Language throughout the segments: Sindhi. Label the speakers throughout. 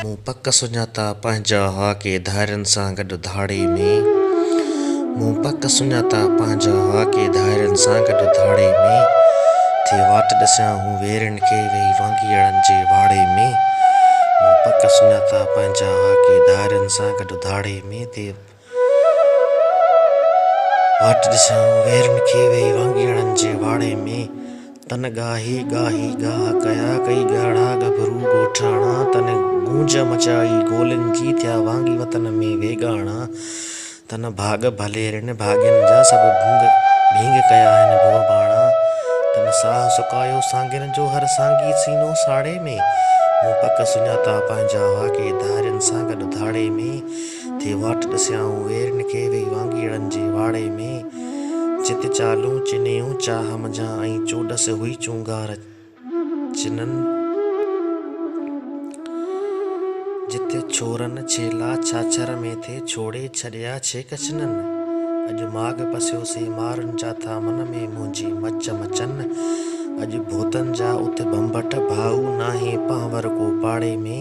Speaker 1: مون پڪ سڃاتا پنهنجا هاڪي ڌارين سان گڏ ڌاڙي ۾، مون پڪ سڃاتا پنهنجا هاڪي ڌارين سان گڏ ڌاڙي ۾، ٿي واٽ ڏسيان هو ويرين کي ويهي وانگيئڙن جي واڙي ۾، مون پڪ سڃاتا پنهنجا هاڪي ڌارين سان گڏ ڌاڙي ۾، تي واٽ ڏسيائون ويرين کي ويهي وانگيئڙن جي واڙي ۾، تن ڳاهي ڳاهي ڳاهه ڪيا، ڪئي ڳهڙا ڳڀرو ڳوٺاڻا، تن گونج مچائي گولين جي، ٿيا وانگي وطن ۾ ويڳاڻا. تنهن ڀاڳ ڀليرن ڀاڳين جا سڀ ڀنگ ڀينگ ڪيا آهن ڀو ڀاڻا تنهن ساهه سڪايو سانگين جو هر سانگي سينو ساڙي ۾ مون پڪ سڃاتا پنهنجا واڪي ڌارين سان گڏ ڌاڙي ۾ ٿي واٽ ڏسيائون ويرين کي ويهي وانگيڙن جي واڙي ۾ جت چالون چنيون چاهه منجهان ۽ چوڏس هئي چونگار جنھن جتي ڇورن ڇيلا ڇاڇر ۾ ٿي ڇوڙي ڇڏيا ڇي ڪچنن اڄ ماڳ پسيو سي مارن جا ٿا من ۾ منھنجي مچ مچن اڄ ڀوتن جا اٿ ڀنڀٽ ڀائو ناھي پنھور ڪو پاڙي ۾.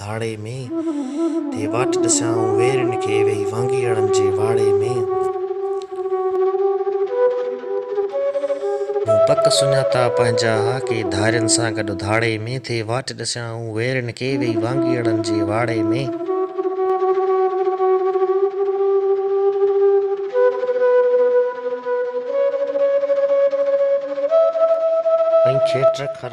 Speaker 1: ڌاڙي ۾، ٿي واٽ ڏسيان آئون ويرين کي، ويهي وانگيئڙن جي واڙي ۾. مون پڪ سڃاتا پنهنجا ها ڪي، ڌارين سان گڏ ڌاڙي ۾، ٿي واٽ ڏسيان آئون ويرين کي، ويهي وانگيئڙن جي واڙي ۾. ۽ کيٽر کر.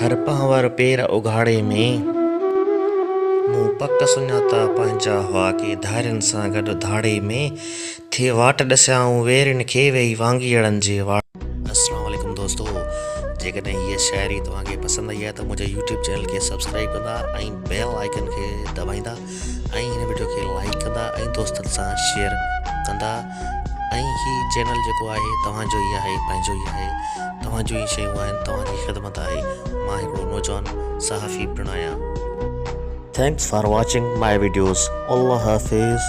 Speaker 1: هر پنهور پير اگهاڙي ۾، مون پڪ سڃاتا پنهنجا هئا ڪي ڌارين سان گڏ ڌاڙي ۾، ٿي واٽ ڏسيائون ويرين کي ويهي وانگيئڙن جي واڙي ۾. السلام عليڪم دوستو جيڪڏهن هيء شاعري توهان کي پسند آئي آهي ته منهنجي يوٽيوب چينل کي سبسڪرائيب ڪندا ۽ بيل آئيڪن کي دٻائيندا ۽ هن وڊيو کي لائيڪ ڪندا ۽ دوستن سان شيئر ڪندا. ۽ هي چينل جيڪو آهي توهان جو ئي آهي پنهنجو ئي آهي توهان جون ئي شيون آهن توهان جي خدمت آهي مان هڪڙو نوجوان صحافي پڻ آهيان. Thanks for watching my videos. Allah Hafiz.